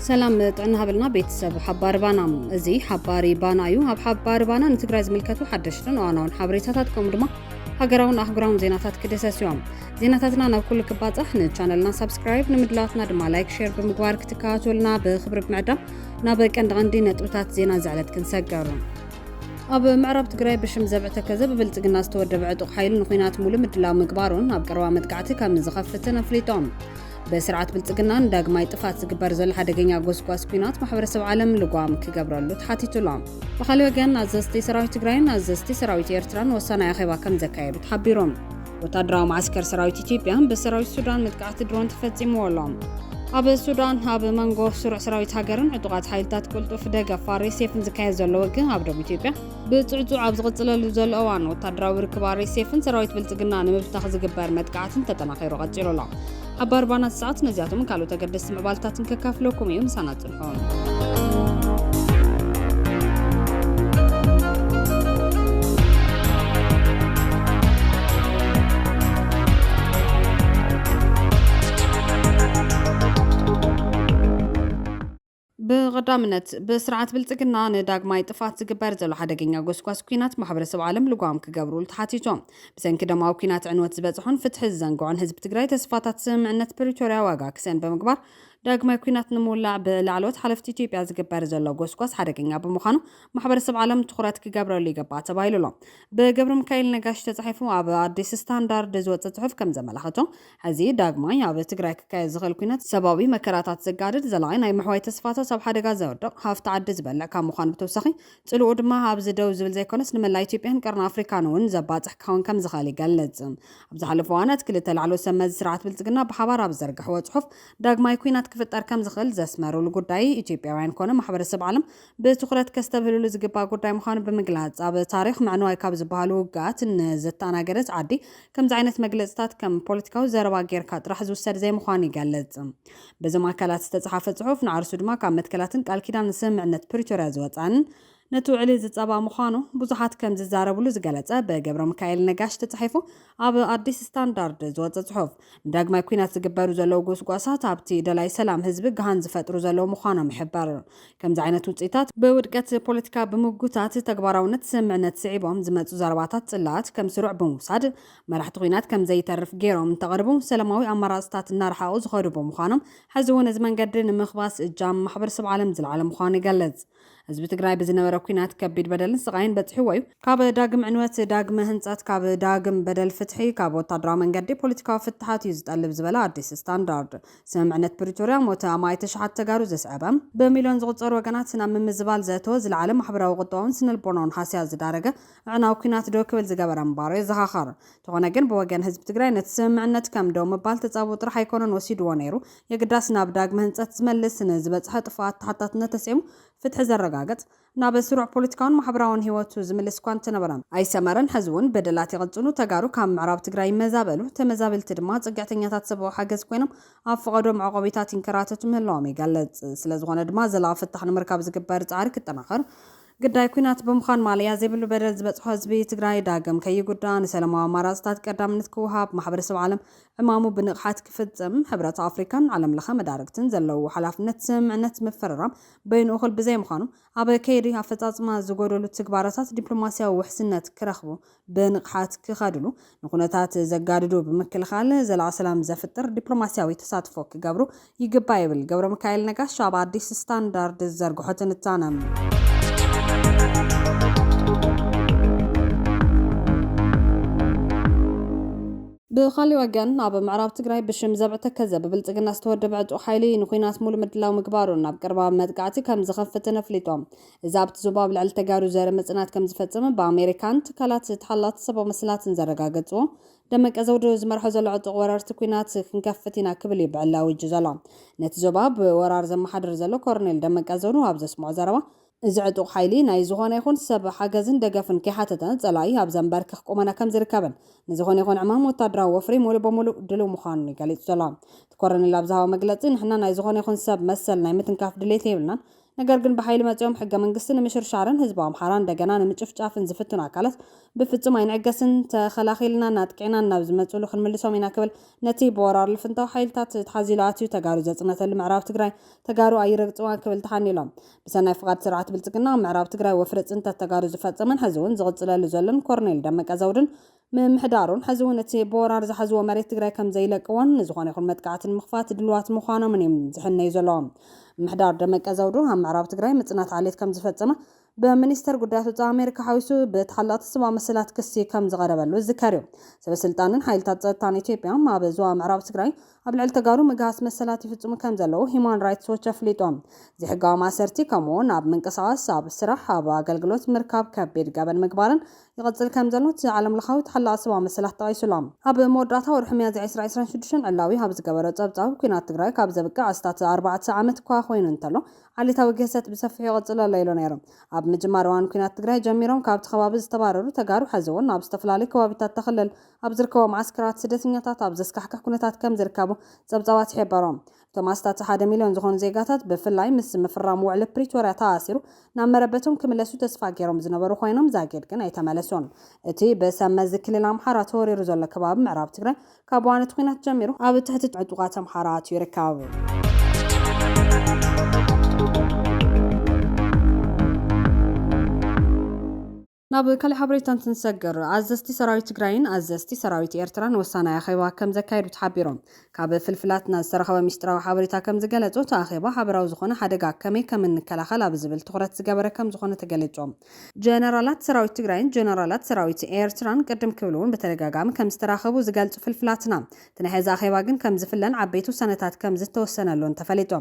ሰላም ጥዕና ሃበልና ቤተሰብ ሓባሪ ባና እዚ ሓባሪ ባና እዩ ኣብ ሓባሪ ባና ንትግራይ ዝምልከቱ ሓደሽትን እዋናውን ሓበሬታታት ከምኡ ድማ ሃገራውን ኣህጉራውን ዜናታት ክድህሰስ እዮም ዜናታትና ናብ ኩሉ ክባጻሕ ንቻነልና ሳብስክራይብ ንምድላትና ድማ ላይክ ሼር ብምግባር ክትከታተሉና ብክብሪ ብምዕዳም ናብ ቀንዲ ቀንዲ ነጥብታት ዜና ዝዕለት ክንሰገሩ ኣብ ምዕራብ ትግራይ ብሽም ዘብዕ ተከዘ ብብልጽግና ዝተወደበ ዕጡቕ ሓይሊ ንኹናት ሙሉ ምድላው ምግባሩን ኣብ ቀረባ መጥቃዕቲ ከም ዝኸፍትን ኣፍሊጦም ብስርዓት ብልጽግናን ዳግማይ ጥፋት ዝግበር ዘሎ ሓደገኛ ጎስጓስ ኩናት ማሕበረሰብ ዓለም ልጓም ክገብረሉ ተሓቲቱሎም ብካልእ ወገን ኣዘዝቲ ሰራዊት ትግራይን ኣዘዝቲ ሰራዊት ኤርትራን ወሳናይ ኣኼባ ከም ዘካየዱ ተሓቢሮም ወታደራዊ ማዓስከር ሰራዊት ኢትዮጵያ ብሰራዊት ሱዳን መጥቃዕቲ ድሮን ተፈጺምዎ ኣሎ። ኣብ ሱዳን ኣብ መንጎ ስሩዕ ሰራዊት ሃገርን ዕጡቓት ሓይልታት ቅልጡፍ ደገፍ ኣሬሴፍን ዝካየድ ዘሎ ውግእ ኣብ ደቡብ ኢትዮጵያ ብፅዕፁዕ ኣብ ዝቕፅለሉ ዘሎ እዋን ወታደራዊ ርክብ ኣሬሴፍን ሰራዊት ብልፅግና ንምብታኽ ዝግበር መጥቃዕትን ተጠናኺሩ ቀፂሉ ኣሎ። ሓባር ባናት ሰዓት ነዚኣቶምን ካልኦት ኣገደስቲ ምዕባልታትን ከካፍለኩም እዩ ምሳና ብቐዳምነት ብስርዓት ብልፅግና ንዳግማይ ጥፋት ዝግበር ዘሎ ሓደገኛ ጎስጓስ ኩናት ማሕበረሰብ ዓለም ልጓም ክገብሩሉ ተሓቲቶም ብሰንኪ ደማዊ ኩናት ዕንወት ዝበፅሖን ፍትሒ ዝዘንግዖን ህዝቢ ትግራይ ተስፋታት ስምምዕነት ፕሪቶርያ ዋጋ ክሰን ብምግባር ዳግማይ ኲናት ንምውላዕ ብላዕለዎት ሓለፍቲ ኢትዮጵያ ዝግበር ዘሎ ጎስጓስ ሓደገኛ ብምዃኑ ማሕበረሰብ ዓለም ትኹረት ክገብረሉ ይግባእ ተባሂሉ ኣሎ። ብገብረሚካኤል ነጋሽ ተጻሒፉ ኣብ ኣዲስ ስታንዳርድ ዝወጸ ጽሑፍ ከም ዘመላኽቶ፣ ሕዚ ዳግማይ ኣብ ትግራይ ክካየድ ዝኽእል ኲናት፣ ሰብኣዊ መከራታት ዘጋድድ፣ ዘላቒ ናይ ምሕዋይ ተስፋታት ኣብ ሓደጋ ዘውድቕ፣ ሃፍቲ ዓዲ ዝበልዕ ካብ ምዃኑ ብተወሳኺ ጽልኡ ድማ ኣብዚ ደው ዝብል ዘይኮነስ ንመላእ ኢትዮጵያን ቀርኒ ኣፍሪካን እውን ዘባጽሕ ክኸውን ከምዝኽእል ይገልጽ። ኣብ ዝሓለፉ እዋናት ክልተ ላዕለዎት ሰብ መዚ ስርዓት ብልጽግና ብሓባር ኣብ ዝዘርግሕዎ ጽሑፍ ዳግማይ ኲናት ክፍጠር ከምዝኽእል ዘስመሩሉ ጉዳይ ኢትዮጵያውያን ኮነ ማሕበረሰብ ዓለም ብትኹረት ከስተብህልሉ ዝግባእ ጉዳይ ምዃኑ ብምግላጽ ኣብ ታሪኽ ምዕንዋይ ካብ ዝበሃሉ ውግኣት ንዘተኣናገደት ዓዲ ከምዚ ዓይነት መግለጽታት ከም ፖለቲካዊ ዘረባ ጌርካ ጥራሕ ዝውሰድ ዘይምዃኑ ይገልጽ። በዞም ኣካላት ዝተጽሓፈ ጽሑፍ ንዓርሱ ድማ ካብ መትከላትን ቃል ኪዳን ስምምዕነት ፕሪቶርያ ዝወጽኣን ነቲ ውዕሊ ዝጻባእ ምዃኑ ብዙሓት ከም ዝዛረብሉ ዝገለጸ ብገብረምካኤል ነጋሽ ተጻሒፉ ኣብ ኣዲስ ስታንዳርድ ዝወጸ ጽሑፍ ንዳግማይ ኩናት ዝግበሩ ዘለዉ ጎስጓሳት ኣብቲ ደላይ ሰላም ህዝቢ ግሃን ዝፈጥሩ ዘለዉ ምዃኖም ይሕበር። ከምዚ ዓይነት ውጽኢታት ብውድቀት ፖለቲካ ብምጉታት ተግባራውነት ስምምዕነት ስዒቦም ዝመጹ ዘረባታት ጽላኣት ከም ስሩዕ ብምውሳድ መራሕቲ ኹናት ከም ዘይተርፍ ገይሮም እንተቐርቡ ሰላማዊ ኣማራፅታት እናረሓቑ ዝኸዱ ብምዃኖም ሕዚ እውን እዚ መንገዲ ንምኽባስ እጃም ማሕበረሰብ ዓለም ዝለዓለ ምዃኑ ይገልፅ። ህዝቢ ትግራይ ብዝነበረ ኲናት ከቢድ በደልን ስቓይን በፂሕዎ እዩ። ካብ ዳግም ዕንወት፣ ዳግመ ህንፀት፣ ካብ ዳግም በደል ፍትሒ፣ ካብ ወታደራዊ መንገዲ ፖለቲካዊ ፍታሓት እዩ ዝጠልብ ዝበለ ኣዲስ ስታንዳርድ ስምምዕነት ፕሪቶርያ ሞተ ኣማኢት ኣሽሓት ተጋሩ ዘስዐበ፣ ብሚልዮን ዝቑፀሩ ወገናት ናብ ምምዝባል ዘእተወ፣ ዝለዓለ ማሕበራዊ፣ ቁጠባውን ስነልቦናውን ሃስያ ዝዳረገ፣ ኣዕናዊ ኩናት ደው ክብል ዝገበረ ምባሩ የዘኻኸር። እንተኾነ ግን ብወገን ህዝቢ ትግራይ ነቲ ስምምዕነት ከም ደው ምባል ተጻብኦ ጥራሕ ኣይኮነን ወሲድዎ ነይሩ፣ የግዳስ ናብ ዳግመ ህንጸት ዝመልስ፣ ንዝበጽሐ ጥፍኣት ተሓታትነት ተሰይሙ ፍትሒ ዘረጋግጽ፣ ናብ ስሩዕ ፖለቲካውን ማሕበራውን ህይወቱ ዝምልስ እኳ እንተነበረ። ኣይሰመረን፣ ሕዚ'ውን በደላት ይቕጽሉ፣ ተጋሩ ካብ ምዕራብ ትግራይ ይመዛበሉ፣ ተመዛበልቲ ድማ ጽግዕተኛታት ሰብኣዊ ሓገዝ ኮይኖም ኣብ ፈቐዶ መዕቖቢታት ይንከራተቱ ምህላዎም ይገልጽ። ስለዝኾነ ድማ ዘላቒ ፍታሕ ንምርካብ ዝግበር ጻዕሪ ክጠናኸር፣ ግዳይ ኲናት ብምዃን ማለያ ዘይብሉ በደል ዝበፅሖ ህዝቢ ትግራይ ዳግም ከይጉዳእ ንሰለማዊ ኣማራፅታት ቀዳምነት ክወሃብ ማሕበረሰብ ዓለም ዕማሙ ብንቕሓት ክፍፅም ሕብረት ኣፍሪካን ዓለም ለኸ መዳርግትን ዘለውዎ ሓላፍነት ስምምዕነት ምፍርራም በይኑ እኹል ብዘይምዃኑ ኣብ ከይዲ ኣፈፃፅማ ዝጎደሉ ትግባረታት ዲፕሎማሲያዊ ውሕስነት ክረኽቡ ብንቕሓት ክኸድሉ፣ ንኩነታት ዘጋድዱ ብምክልኻል ዘላቒ ሰላም ዘፍጥር ዲፕሎማሲያዊ ተሳትፎ ክገብሩ ይግባእ ይብል ገብረሚካኤል ነጋሽ ኣብ ኣዲስ ስታንዳርድ ዝዘርግሖ ትንታነ። ብኻሊእ ወገን ኣብ ምዕራብ ትግራይ ብሽም ዘብዕ ተከዘ ብብልፅግና ዝተወደበ ዕጡቕ ሓይሊ ንኹናት ሙሉእ ምድላው ምግባሩን ናብ ቀረባ መጥቃዕቲ ከም ዝኸፍትን ኣፍሊጦም። እዚ ኣብቲ ዞባ ኣብ ልዕሊ ተጋሩ ዘርኢ ምጽናት ከም ዝፈጸመ ብኣሜሪካን ትካላት ተሓላቲ ሰባዊ መሰላትን ዘረጋገጽዎ ደመቀ ዘውዱ ዝመርሖ ዘሎ ዕጡቕ ወረርቲ ኩናት ክንከፍት ኢና ክብል እዩ ብዕሊ ኣዊጁ ዘሎ። ነቲ ዞባ ብወራር ዘመሓድር ዘሎ ኮረኔል ደመቀ ዘውዱ ኣብ ዘስምዖ ዘረባ፣ እዚ ዕጡቕ ሓይሊ ናይ ዝኾነ ይኹን ሰብ ሓገዝን ደገፍን ከይሓተተ ጸላኢ ኣብ ዘንበርክኽ ቁመና ከም ዝርከብን ንዝኾነ ይኹን ዕማም ወታደራዊ ወፍሪ ሙሉእ ብምሉእ ድልው ምዃኑን እዩ ገሊጹ ዘሎ። እቲ ኮረኔል ኣብ ዝሃቦ መግለጺ፣ ንሕና ናይ ዝኾነ ይኹን ሰብ መሰል ናይ ምትንካፍ ድሌት የብልናን፣ ነገር ግን ብሓይሊ መጺኦም ሕገ መንግስቲ ንምሽርሻርን ህዝቢ ኣምሓራ እንደገና ንምጭፍጫፍን ዝፍትኑ ኣካላት ብፍጹም ኣይንዕገስን፣ ተኸላኺልናን ኣጥቂዕናን ናብ ዝመጽእሉ ክንምልሶም ኢና ክብል ነቲ ብወራር ልፍንታዊ ሓይልታት ተሓዚሉ ኣትዩ ተጋሩ ዘጽነተሉ ምዕራብ ትግራይ ተጋሩ ኣይረግጽዋን ክብል ተሓኒሎም ብሰናይ ፍቓድ ስርዓት ብልጽግና ኣብ ምዕራብ ትግራይ ወፍሪ ጽንተት ተጋሩ ዝፈጸመን ሕዚ'ውን ዝቕጽለሉ ዘሎን ኮርኔል ደመቀ ዘውዱን ምምሕዳሩን ሕዚ እውን እቲ ብወራር ዝሓዝዎ መሬት ትግራይ ከምዘይለቅዎን ንዝኾነ ይኹን መጥቃዕቲ ንምኽፋት ድሉዋት ምዃኖምን እዩ ዝሕነዩ ዘለዉ። ምምሕዳር ደመቀ ዘውዱ ኣብ ምዕራብ ትግራይ ምፅናት ዓሌት ከምዝፈፀመ ብሚኒስተር ጉዳያት ወፃኢ ኣሜሪካ ሓዊሱ ብተሓለቕቲ ሰብኣዊ መሰላት ክሲ ከምዝቐረበሉ ዝዝከር እዩ። ሰበስልጣንን ሓይልታት ፀጥታን ኢትዮጵያ ኣብ ዞባ ምዕራብ ትግራይ ኣብ ልዕሊ ተጋሩ ምግሃስ መሰላት ይፍፅሙ ከምዘለዉ ሂዩማን ራይትስ ዎች ኣፍሊጡ። ዘይሕጋዊ ማእሰርቲ ከምኡ እውን ኣብ ምንቅስቓስ፣ ኣብ ስራሕ፣ ኣብ ኣገልግሎት ምርካብ ከቢድ ገበን ምግባርን ይቕጽል ከም ዘሎ እቲ ዓለምለኻዊ ተሓላቒ ሰብኣዊ መሰላት ጠቒሱ ኣሎ። ኣብ መወዳእታ ወርሒ ሚያዝያ ዕስራ ዕስራን ሽዱሽተን ዕላዊ ኣብ ዝገበሮ ጸብጻቡ፣ ኲናት ትግራይ ካብ ዘብቅዕ ኣስታት ኣርባዕተ ዓመት እኳ ኮይኑ እንተሎ፣ ዓሌታዊ ግህሰት ብሰፊሑ ይቕጽል ኣሎ ኢሉ ነይሩ። ኣብ ምጅማር እዋን ኲናት ትግራይ ጀሚሮም ካብቲ ከባቢ ዝተባረሩ ተጋሩ ሕዚ'ውን ኣብ ዝተፈላለዩ ከባቢታት'ታ ክልል ኣብ ዝርከቡ መዓስከራት ስደተኛታት ኣብ ዘስካሕክሕ ኩነታት ከም ዝርከቡ ጸብጻባት ይሕበሩ። እቶም ኣስታት ሓደ ሚልዮን ዝኾኑ ዜጋታት ብፍላይ ምስ ምፍራም ውዕሊ ፕሪቶርያ ተኣሲሩ ናብ መረበቶም ክምለሱ ተስፋ ገይሮም ዝነበሩ ኾይኖም ዛጊድ ግን ኣይተመለሱን። እቲ ብሰብ መዚ ክልል ኣምሓራ ተወሪሩ ዘሎ ከባቢ ምዕራብ ትግራይ ካብ እዋን እቲ ኹናት ጀሚሩ ኣብ ትሕቲ ዕጡቓት ኣምሓራ ኣትዩ ይርከብ። ናብ ካሊእ ሓበሬታ እንትንሰግር፣ ኣዘዝቲ ሰራዊት ትግራይን ኣዘዝቲ ሰራዊት ኤርትራን ወሳናይ ኣኼባ ከምዘካየዱ ተሓቢሮም። ካብ ፍልፍላትና ዝተረኸበ ሚስጢራዊ ሓበሬታ ከምዝገለፆ እቲ ኣኼባ ሓበራዊ ዝኾነ ሓደጋ ከመይ ከምንከላኸል ኣብ ዝብል ትኹረት ዝገበረ ከምዝኾነ ተገሊፆም። ጀነራላት ሰራዊት ትግራይን ጀነራላት ሰራዊት ኤርትራን ቅድም ክብል እውን ብተደጋጋሚ ከምዝተራኸቡ ዝገልፁ ፍልፍላትና፣ እቲ ናይ ሕዚ ኣኼባ ግን ከም ዝፍለን ዓበይቲ ውሳነታት ከም ዝተወሰነሉን ተፈሊጡ።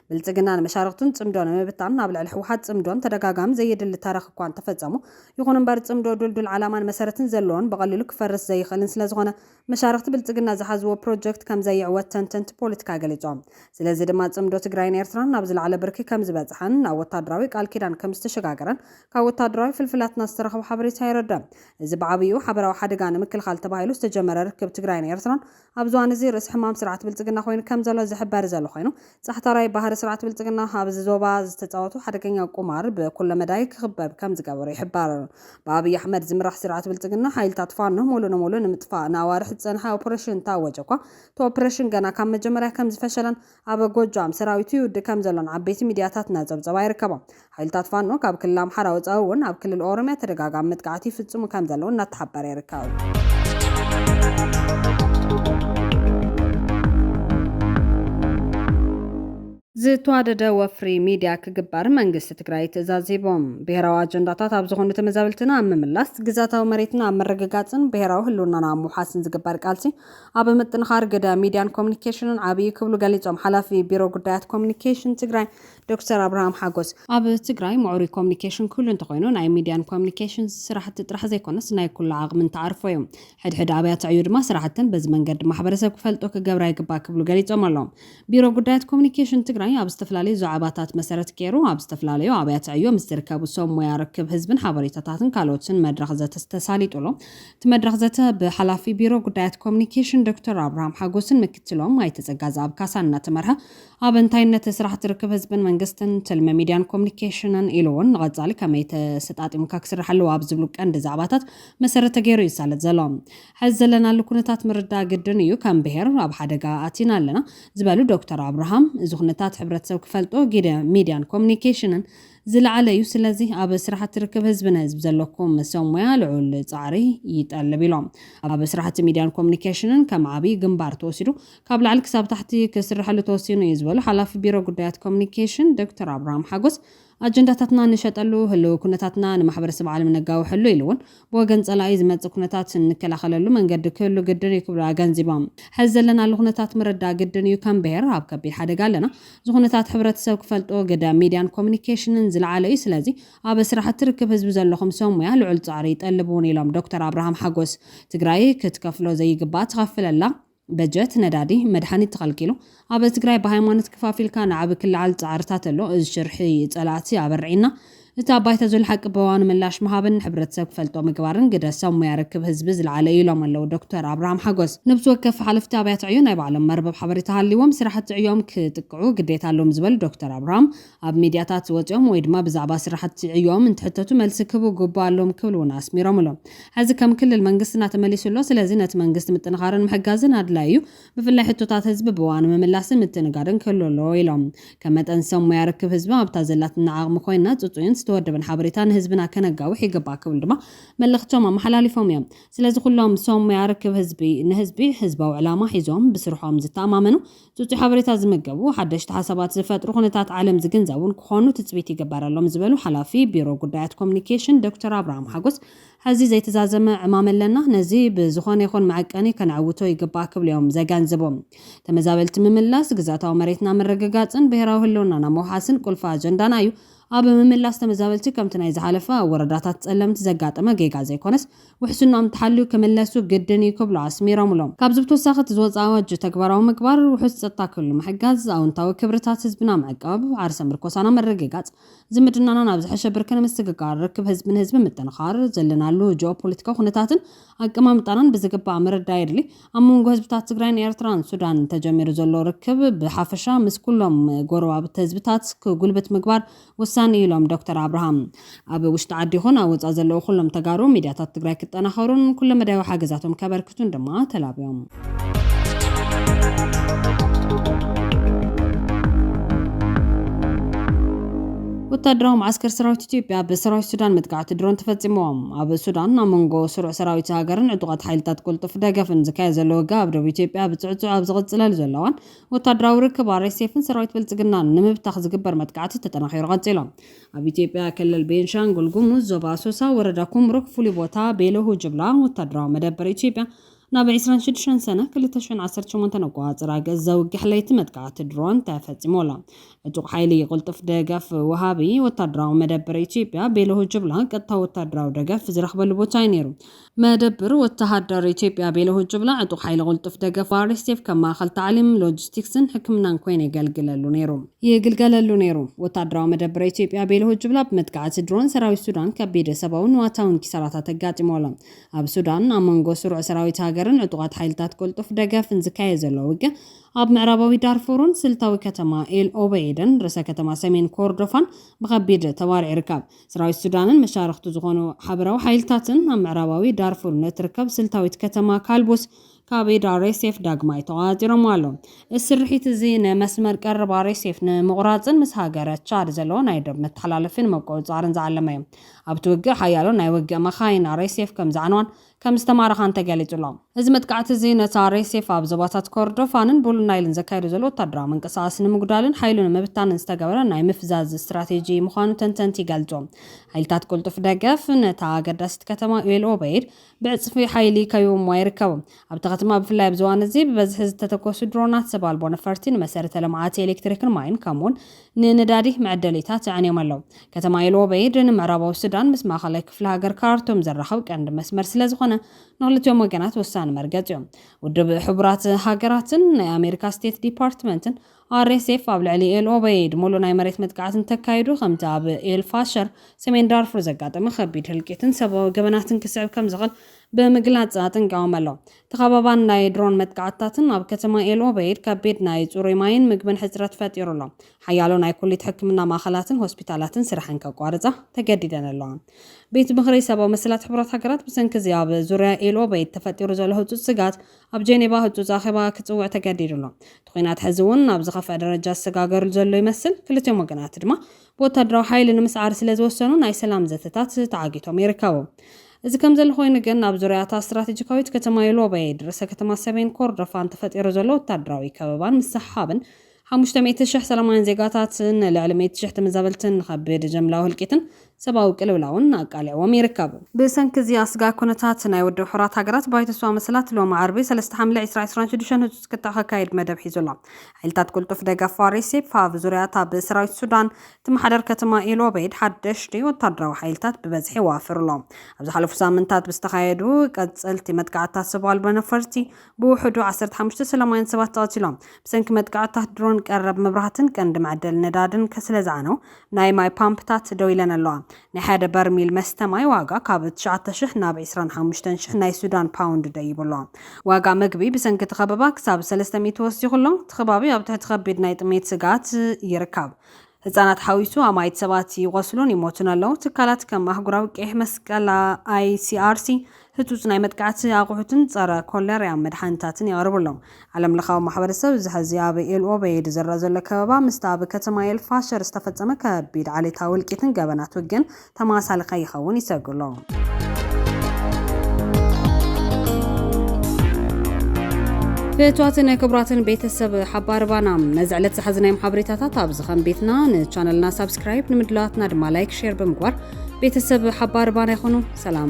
ብልጽግና ንመሻርኽቱን ጽምዶ ንምብታን ኣብ ልዕሊ ህወሓት ጽምዶን ተደጋጋሚ ዘየድሊ ተረኽ እኳ እንተፈጸሙ፣ ይኹን እምበር ጽምዶ ድልዱል ዓላማን መሰረትን ዘለዎን ብቐሊሉ ክፈርስ ዘይኽእልን ስለዝኾነ መሻርኽቲ ብልጽግና ዝሓዝዎ ፕሮጀክት ከም ዘይዕወት ተንተንቲ ፖለቲካ ገሊጾም። ስለዚ ድማ ጽምዶ ትግራይን ኤርትራን ናብ ዝለዓለ ብርኪ ከም ዝበጽሐን ናብ ወታደራዊ ቃል ኪዳን ከም ዝተሸጋገረን ካብ ወታደራዊ ፍልፍላትና ዝተረኽበ ሓበሬታ የረድእ። እዚ ብዓብይኡ ሓበራዊ ሓደጋ ንምክልኻል ተባሂሉ ዝተጀመረ ርክብ ትግራይን ኤርትራን ኣብዚ እዋን እዚ ርእሲ ሕማም ስርዓት ብልፅግና ኮይኑ ከም ዘሎ ዝሕበር ዘሎ ኮይኑ ፃሕታራይ ባህሪ ስርዓት ብልፅግና ኣብዚ ዞባ ዝተፃወቶ ሓደገኛ ቁማር ብኩለ መዳይ ክኽበብ ከም ዝገበሮ ይሕበር። ብኣብይ ኣሕመድ ዝምራሕ ስርዓት ብልፅግና ሓይልታት ፋኖ ሙሉእ ንሙሉእ ንምጥፋእ ንኣዋርሕ ዝፀንሐ ኦፕሬሽን እንተኣወጀ እኳ እቲ ኦፕሬሽን ገና ካብ መጀመርያ ከም ዝፈሸለን ኣብ ጎጃም ሰራዊቱ ይውድእ ከምዘሎን ዓበይቲ ሚድያታትና ጸብጸባ ይርከቦም። ሓይልታት ፋኖ ካብ ክልል ኣምሓራ ወጻኢ እውን ኣብ ክልል ኦሮምያ ተደጋጋሚ መጥቃዕቲ ይፍጽሙ ከምዘለዉ እናተሓበረ ይርከብ። ዝተዋደደ ወፍሪ ሚድያ ክግበር መንግስቲ ትግራይ ትእዛዝ ሂቡ። ብሄራዊ ኣጀንዳታት ኣብ ዝኾኑ ተመዛበልትና ኣብ ምምላስ፣ ግዝኣታዊ መሬትና ኣብ ምርግጋጽን ብሄራዊ ህልውናና ኣብ ምውሓስን ዝግበር ቃልሲ ኣብ ምጥንኻር ግደ ሚድያን ኮሙኒኬሽንን ዓብይ እዩ ክብሉ ገሊፆም ሓላፊ ቢሮ ጉዳያት ኮሙኒኬሽን ትግራይ ዶክተር ኣብርሃም ሓጎስ። ኣብ ትግራይ ምዕሩይ ኮሙኒኬሽን ክህሉ እንተኾይኑ ናይ ሚድያን ኮሙኒኬሽንስ ስራሕቲ ጥራሕ ዘይኮነስ ናይ ኩሉ ዓቕሚ እንተዓርፎ እዩ። ሕድ ሕድ ኣብያተ ዕዩ ድማ ስራሕተን በዚ መንገዲ ማሕበረሰብ ክፈልጦ ክገብራ ይግባእ ክብሉ ገሊፆም ኣለው። ቢሮ ጉዳያት ኮሙኒኬሽን ትግራይ ኣብ ዝተፈላለዩ ዛዕባታት መሰረት ገይሩ ኣብ ዝተፈላለዩ ኣብያተ ዕዮ ምስ ዝርከቡ ሰብ ሞያ ርክብ ህዝብን ሓበሬታታትን ካልኦትን መድረኽ ዘተ ተሳሊጡሉ እቲ መድረኽ ዘተ ብሓላፊ ቢሮ ጉዳያት ኮሙኒኬሽን ዶክተር ኣብርሃም ሓጎስን ምክትሎም ኣይተ ፀጋዝኣብ ካሳን እናተመርሐ ኣብ እንታይነት ስራሕቲ ርክብ ህዝብን መንግስትን፣ ትልሚ ሚድያን ኮሙኒኬሽንን ኢሉ እውን ንቐፃሊ ከመይ ተሰጣጢምካ ክስራሕ ኣለዎ ኣብ ዝብሉ ቀንዲ ዛዕባታት መሰረት ተገይሩ ይሳለጥ ዘሎ። ሐዚ ዘለናሉ ኩነታት ምርዳእ ግድን እዩ፣ ከም ብሄር ኣብ ሓደጋ ኣቲና ኣለና ዝበሉ ዶክተር ኣብርሃም፣ እዚ ኩነታት ሕብረተሰብ ክፈልጦ ሚድያን ኮሙኒኬሽንን ዝለዓለ እዩ። ስለዚ ኣብ ስራሕቲ ርክብ ህዝቢ ንህዝቢ ዘለኩም ሰብ ሞያ ልዑል ፃዕሪ ይጠልብ ኢሎም። ኣብ ስራሕቲ ሚዲያን ኮሙኒኬሽንን ከም ዓብዪ ግንባር ተወሲዱ ካብ ላዕሊ ክሳብ ታሕቲ ክስረሐሉ ተወሲኑ እዩ ዝበሉ ሓላፊ ቢሮ ጉዳያት ኮሙኒኬሽን ዶክተር ኣብርሃም ሓጎስ ኣጀንዳታትና ንሸጠሉ፣ ህልዊ ኩነታትና ንማሕበረሰብ ዓለም ነጋውሐሉ ኢሉ እውን ብወገን ፀላኢ ዝመፅእ ኩነታት እንከላኸለሉ መንገዲ ክህሉ ግድን እዩ ክብሉ ኣገንዚቦም። ሐዚ ዘለናሉ ኩነታት ምርዳእ ግድን እዩ፣ ከም ብሄር ኣብ ከቢድ ሓደጋ ኣለና፣ እዚ ኩነታት ሕብረተሰብ ክፈልጦ ግደ ሚድያን ኮሙኒኬሽንን ዝለዓለ እዩ፣ ስለዚ ኣብ ስራሕቲ ርክብ ህዝቢ ዘለኹም ሰብ ሙያ ልዑል ፃዕሪ ይጠልብ እውን ኢሎም ዶክተር ኣብርሃም ሓጎስ። ትግራይ ክትከፍሎ ዘይግባእ ትኸፍል ኣላ፣ በጀት፣ ነዳዲ፣ መድሓኒት ተኸልኪሉ ኣብ ትግራይ ብሃይማኖት ክፋፊልካ ንዓቢ ክልዓል ፃዕርታት ኣሎ እዚ ሽርሒ ፀላእቲ ኣበርዒና እቲ ኣብ ባይታ ዘሎ ሓቂ ብእዋኑ ምላሽ ምሃብን ንሕብረተሰብ ክፈልጦ ምግባርን ግደ ሰብ ሙያ ርክብ ህዝቢ ዝለዓለ እዩ ኢሎም ኣለው ዶክተር ኣብርሃም ሓጎስ። ነብሲ ወከፍ ሓለፍቲ ኣብያተ ዕዮ ናይ ባዕሎም መርበብ ሓበሬታ ሃልይዎም ስራሕቲ ዕዮም ክጥቅዑ ግዴታ ኣለዎም ዝበሉ ዶክተር ኣብርሃም ኣብ ሚድያታት ወፂኦም ወይ ድማ ብዛዕባ ስራሕቲ ዕዮኦም እንትሕተቱ መልሲ ክህቡ ግቡእ ኣለዎም ክብል እውን ኣስሚሮምሉ። ሐዚ ከም ክልል መንግስትና ተመሊሱ ኣሎ። ስለዚ ነቲ መንግስቲ ምጥንኻርን ምሕጋዝን ኣድላዪ እዩ። ብፍላይ ሕቶታት ህዝቢ ብእዋኑ ምምላስን ምትእንጋድን ክህሉ ኣለዎ ኢሎም። ከም መጠን ሰብ ሞያ ርክብ ህዝቢ ኣብታ ዘላትና ዓቕሚ ኮይንና ፅፁይን ዝተወደበን ሓበሬታ ንህዝብና ከነጋውሕ ይግባእ ክብሉ ድማ መልእኽቶም ኣመሓላሊፎም እዮም። ስለዚ ኩሎም ሰብ ሞያ ርክብ ህዝቢ ንህዝቢ ህዝባዊ ዕላማ ሒዞም ብስርሖም ዝተኣማመኑ፣ ጽጹይ ሓበሬታ ዝምገቡ፣ ሓደሽቲ ሓሳባት ዝፈጥሩ፣ ኩነታት ዓለም ዝግንዘቡን ክኾኑ ትጽቢት ይግበረሎም ዝበሉ ሓላፊ ቢሮ ጉዳያት ኮሚኒኬሽን ዶክተር ኣብርሃም ሓጎስ፣ ሕዚ ዘይተዛዘመ ዕማም ኣለና፣ ነዚ ብዝኾነ ይኹን መዐቀኒ ከነዕውቶ ይግባእ ክብሉ'ዮም ዘገንዝቡ። ተመዛበልቲ ምምላስ፣ ግዝኣታዊ መሬትና ምርግጋጽን ብሄራዊ ህልውናና ምውሓስን ቁልፊ ኣጀንዳና እዩ፣ ኣብ ምምላስ ተመዛበልቲ ከምቲ ናይ ዝሓለፈ ኣብ ወረዳታት ጸለምቲ ዘጋጠመ ጌጋ ዘይኮነስ፣ ውሕስንኦም ተሓልዩ ክምለሱ ግድን እዩ ክብሉ ኣስሚሮምሉ። ካብዚ ብተወሳኺ እቲ ዝወፅኣ ኣዋጅ ተግባራዊ ምግባር፣ ውሑስ ፀጥታ ክህሉ ምሕጋዝ፣ ኣወንታዊ ክብርታት ህዝብና ምዕቃብ፣ ዓርሰ ምርኮሳና ምርግጋፅ፣ ዝምድናና ናብ ዝሐሸ ብርኪ ንምስግጋር፣ ርክብ ህዝቢ ንህዝቢ ምጥንኻር፣ ዘለናሉ ጂኦፖለቲካዊ ኩነታትን ኣቀማምጣናን ብዝግባእ ምርዳእ የድሊ። ኣብ መንጎ ህዝብታት ትግራይን ኤርትራን ሱዳን ተጀሚሩ ዘሎ ርክብ ብሓፈሻ ምስ ኩሎም ጎረባብቲ ህዝብታት ክጉልብት ምግባር ወሳኒ እዩ ኢሎም ዶክተር ኣብርሃም። ኣብ ውሽጢ ዓዲ ይኹን ኣብ ወፃእ ዘለዉ ኩሎም ተጋሩ ሚድያታት ትግራይ ክጠናኸሩን ኩለመዳያዊ ሓገዛቶም ከበርክቱን ድማ ተላብዮም። ወታደራዊ መዓስከር ሰራዊት ኢትዮጵያ ብሰራዊት ሱዳን መጥቃዕቲ ድሮን ተፈፂሞም። ኣብ ሱዳን ኣብ መንጎ ስሩዕ ሰራዊት ሃገርን ዕጡቓት ሓይልታት ቅልጡፍ ደገፍን ዝካየድ ዘሎ ውግእ ኣብ ደቡብ ኢትዮጵያ ብፅዕፁዕ ኣብ ዝቕፅለሉ ዘለዋን ወታደራዊ ርክብ RSFን ሰራዊት ብልፅግናን ንምብታኽ ዝግበር መጥቃዕቲ ተጠናኺሩ ቀፂሉ። ኣብ ኢትዮጵያ ክልል ቤንሻንጉል ጉሙዝ ዞባ ኣሶሳ ወረዳ ኩምሩክ ፍሉይ ቦታ ቤለሁ ጅብላ ወታደራዊ መደበር ኢትዮጵያ ናብ ዕስራን ሽዱሽተን ሰነ ክልተ ሽሕን ዓሰርተ ሸሞንተን ኣቆፃፅራ ገፅ ዘውግሕ ለይቲ መጥቃዕቲ ድሮን ተፈፂሙ ኣሎ። ዕጡቕ ሓይሊ ቅልጡፍ ደገፍ ወሃቢ ወታደራዊ መደበር ኢትዮጵያ ቤለሁ ጅብላ ቀጥታዊ ወታደራዊ ደገፍ ዝረኽበሉ ቦታ እዩ ነይሩ። መደብር ወተሃደር ኢትዮጵያ ቤለሁ ጁብላ ዕጡቕ ሓይሊ ቅልጡፍ ደገፍ RSF ከም ማእኸል ታዕሊም፣ ሎጂስቲክስን ሕክምናን ኮይኑ የገልግለሉ ነይሩ። ይግልገለሉ ነይሩ። ወታደራዊ መደብር ኢትዮጵያ ቤለሁ ጁብላ ብመጥቃዕቲ ድሮን ሰራዊት ሱዳን ከቢድ ሰብኣውን ንዋታውን ኪሳራታት ኣጋጢምዎ ኣሎ። ኣብ ሱዳን ኣብ መንጎ ስሩዕ ሰራዊት ሃገርን ዕጡቓት ሓይልታት ቅልጡፍ ደገፍን ዝካየድ ዘሎ ውግእ ኣብ ምዕራባዊ ዳርፉርን ስልታዊ ከተማ ኤል ኦበይድን ርእሰ ከተማ ሰሜን ኮርዶፋን ብኸቢድ ተባሪዑ ይርከብ። ሰራዊት ሱዳንን መሻርኽቱ ዝኾኑ ሓበራዊ ሓይልታትን ኣብ ምዕራባዊ ዳርፉር ንእትርከብ ስልታዊት ከተማ ካልቡስ ካብ ኢድ ኣርኤስኤፍ ዳግማይ ተቖጻጺሮምዋ ኣለዉ። እዚ ስርሒት እዚ ንመስመር ቀረብ ኣርኤስኤፍ ንምቑራጽን ምስ ሃገረ ቻድ ዘሎ ናይ ዶብ መተሓላለፊ ንምቁጽጻርን ዝዓለመ እዩ። ኣብቲ ውግእ ሓያሎ ናይ ውግእ መካይን ኣርኤስኤፍ ከምዝዓነዋን ከምዝተማረኻ እንተገሊጹ ኣሎ። እዚ መጥቃዕቲ እዚ ነቲ ኣርኤስኤፍ ኣብ ዞባታት ኮርዶፋንን ቡሉ ናይልን ዘካይዶ ዘሎ ወታደራዊ ምንቅስቓስ ንምጉዳልን ሓይሉ ንምብታንን ዝተገበረ ናይ ምፍዛዝ ስትራቴጂ ምዃኑ ተንተንቲ ይገልጹ። ሓይልታት ቅልጡፍ ደገፍ ነታ ኣገዳሲት ከተማ ኤል ኦበይድ ብዕጽፊ ሓይሊ ከቢቦምዋ ይርከቡ። ኣብታ ከተማ ብፍላይ ኣብዚ እዋን እዚ ብበዝሒ ዝተተኮሱ ድሮናት ሰብ ኣልቦ ነፈርቲ ንመሰረተ ልምዓት ኤሌክትሪክን ማይን ከምኡ'ውን ንነዳዲ መዐደሊታት ኣዕንዮም ኣለዉ። ከተማ ኤል-ኦበይድ ንምዕራባዊ ሱዳን ምስ ማእኸላይ ክፍለ ሃገር ካርቱም ዘራኽብ ቀንዲ መስመር ስለዝኾነ ንኽልቲኦም ወገናት ወሳኒ መርገፂ ዩ። ውድብ ሕቡራት ሃገራትን ናይ ኣሜሪካ ስቴት ዲፓርትመንትን፣ RSF፣ ኣብ ልዕሊ ኤል-ኦበይድ ሙሉእ ናይ መሬት መጥቃዕቲ እንተካይዱ ከምቲ ኣብ ኤል-ፋሸር፣ ሰሜን ዳርፉር፣ ዘጋጠመ ኸቢድ ህልቂትን ሰብኣዊ ገበናትን ክስዕብ ከምዝኽእል ብምግላፅ ኣጠንቂቖም ኣለዉ። ተኸባባን ናይ ድሮን መጥቃዕትታትን ኣብ ከተማ ኤል ኦበይድ ከቢድ ናይ ጽሩይ ማይን ምግብን ሕጽረት ፈጢሩ ኣሎ። ሓያሎ ናይ ኩሊት ሕክምና ማእኸላትን ሆስፒታላትን ስርሐን ከቋርጻ ተገዲደን ኣለዋ። ቤት ምኽሪ ሰባዊ መሰላት ሕቡራት ሃገራት ብሰንኪ እዚ ኣብ ዙርያ ኤል ኦበይድ ተፈጢሩ ዘሎ ህጹጽ ስግኣት ኣብ ጄኔቫ ህጹጽ ኣኼባ ክጽውዕ ተገዲዱ ኣሎ። እቲ ኲናት ሕዚ እውን ናብ ዝኸፍኣ ደረጃ ዝሰጋገርሉ ዘሎ ይመስል፣ ክልቲኦም ወገናት ድማ ብወታደራዊ ሓይሊ ንምስዓር ስለ ዝወሰኑ ናይ ሰላም ዘተታት ተዓጊቶም ይርከቡ። እዚ ከምዘሎ ኮይኑ ግን ኣብ ዙርያ እታ ስትራቴጂካዊት ከተማ ዩሎበይድ ርእሰ ከተማ ሰሜን ኮርዶፋን ተፈጢሩ ዘሎ ወታደራዊ ከበባን ምስሕሓብን ሓሙሽተ ሚእቲ ሽሕ ሰላማውያን ዜጋታትን ልዕሊ ሚእቲ ሽሕ ተመዛበልትን ንኸቢድ ጀምላዊ ህልቂትን ሰብኣዊ ቅልውላውን ኣቃሊዕዎም ይርከብ። ብሰንኪ እዚ ኣስጋኢ ኩነታት ናይ ውድብ ሕቡራት ሃገራት ባይቶ ሰብኣዊ መሰላት ሎሚ ዓርቢ ሰለስተ ሓምለ ዕስራ ዕስራን ሽዱሽተን ህጹጽ ክትዕ ከካይድ መደብ ሒዙ ኣሎ። ሓይልታት ቅልጡፍ ደገፍ RSF ኣብ ዙርያ እታ ብሰራዊት ሱዳን እትመሓደር ከተማ ኤል ኦበይድ ሓደሽቲ ወተሃደራዊ ሓይልታት ብበዝሒ የዋፍር ኣሎ። ኣብ ዝሓለፉ ሳምንታት ብዝተኻየዱ ቀጸልቲ መጥቃዕትታት ሰብ ኣልቦ ነፈርቲ ብውሕዱ ዓሰርተ ሓሙሽተ ሰላማውያን ሰባት ተቐቲሎም። ብሰንኪ መጥቃዕትታት ድሮን ቀረብ መብራህትን ቀንዲ መዐደሊ ነዳድን ስለዝዓነው ናይ ማይ ፓምፕታት ደው ኢለን ኣለዋ። ናይ ሓደ በርሚል መስተ ማይ ዋጋ ካብ ትሽዓተ ሽሕ ናብ ዕስራን ሓሙሽተን ሽሕ ናይ ሱዳን ፓውንድ ደይቡ ኣሎ። ዋጋ ምግቢ ብሰንኪ እቲ ከበባ ክሳብ ሰለስተ ሚእቲ ወሲኹ ኣሎ። እቲ ከባቢ ኣብ ትሕቲ ከቢድ ናይ ጥሜት ስግኣት ይርከብ። ህጻናት ሓዊሱ ኣማኢት ሰባት ይቖስሉን ይሞቱን ኣለዉ። ትካላት ከም ኣህጉራዊ ቀይሕ መስቀል፣ ኣይሲኣርሲ፣ ህጹጽ ናይ መጥቃዕቲ ኣቑሑትን ጸረ ኮለርያ መድሓኒታትን የቕርብሎም። ዓለምለኻዊ ማሕበረሰብ እዚ ሕዚ ኣብ ኤል ኦበይድ ዝረኣ ዘሎ ከበባ ምስቲ ኣብ ከተማ ኤል ፋሸር ዝተፈጸመ ከቢድ ዓሌታዊ እልቂትን ገበናት ውግእን ተመሳሳሊ ከይኸውን ይሰግኡ ኣለዉ። ፍትዋትን ክቡራትን ቤተሰብ ሓባር ባና ነዚ ዕለት ዝሓዝናዮም ሓበሬታታት ኣብዚ ከም ቤትና ንቻነልና ሳብስክራይብ ንምድላዋትና ድማ ላይክ ሼር ብምግባር ቤተሰብ ሓባር ባና ይኹኑ። ሰላም